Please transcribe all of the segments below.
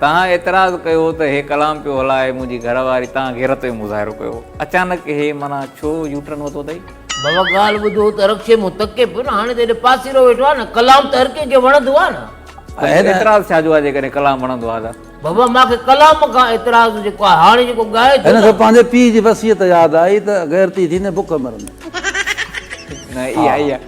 تنهن اعتراض ڪيو ته هي ڪلام پيو هلائي منهنجي گهر واري تنهن غيرت ۾ مظاهرو ڪيو اچانڪ هي معنيٰ ڇو يو ٽرن ورتو اٿئي. بابا ڳالهه ٻڌو ته رڪشي مون تڪي پيو نه هاڻي ته هيڏو پاسيرو ويٺو آهي نه ڪلام ته هر ڪنهن کي وڻندو آهي نه. اڄ اعتراض ڇا جو آهي جيڪڏهن ڪلام وڻندو آهي ته. بابا مان کي ڪلام کان اعتراض جيڪو آهي هاڻي جيڪو ڳائي ٿو نه. هن کي پنهنجي پيء جي وصيت ياد آئي ته غيرتي ٿيندين بک مرندين. نه اها ئي آهي.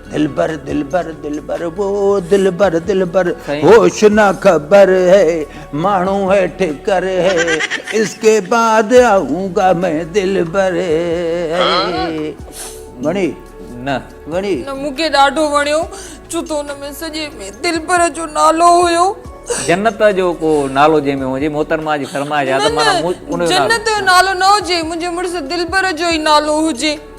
دلبر دلبر دلبر وو دلبر دلبر هوش نه خبر هي ماڻهو هي ٺڪر هي اس ڪي بعد آئون گا مين دلبر وڻي نه وڻي نه مون کي ڏاڍو وڻيو ڇو ته ان ۾ سڄي ۾ دلبر جو نالو هيو جنت جو ڪو نالو جنهن ۾ هجي محترمه جي فرمائش آ ته مانا ان جو نالو جنت جو نالو نه هجي منهنجي مڙس دلبر جو ئي نالو هجي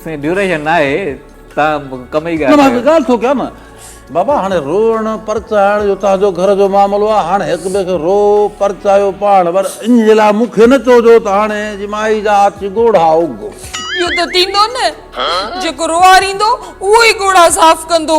سائين ڊيوريشن ناهي توهان ڪم ئي ڳاهه ڪيو. ڳالهه ٿو ڪيان نه بابا هاڻي روئڻ پرچائڻ جو تنهنجو گهر جو معاملو آ هاڻي هڪ ٻئي کي روء پرچايو پاڻ پر ان جي لاء مون کي نه چئو جو ته هاڻي جي مائي جا آڇي ڳوڙها اگهو. اهو ته ٿيندو نه جيڪو روئاريندو اهو ئي ڳوڙها صاف ڪندو.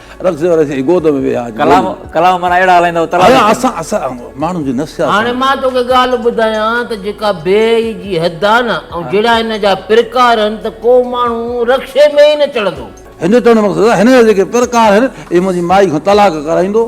رقص واري سائين گود ۾ ويها ڪلام ڪلام معنيٰ اهڙا هلائيندا هو تلاش اسان اسان ماڻهن جي نفسيات هاڻي مان توکي ڳالهه ٻڌايان ته جيڪا بي اي جي حد آهي نه ۽ جهڙا هن جا پرڪار آهن ته ڪو ماڻهو رڪشي ۾ ئي نه چڙهندو. هن جو چوڻ جو مقصد آهي هن جا جيڪي پرڪار آهن اهي منهنجي مائي کان طلاق ڪرائيندو.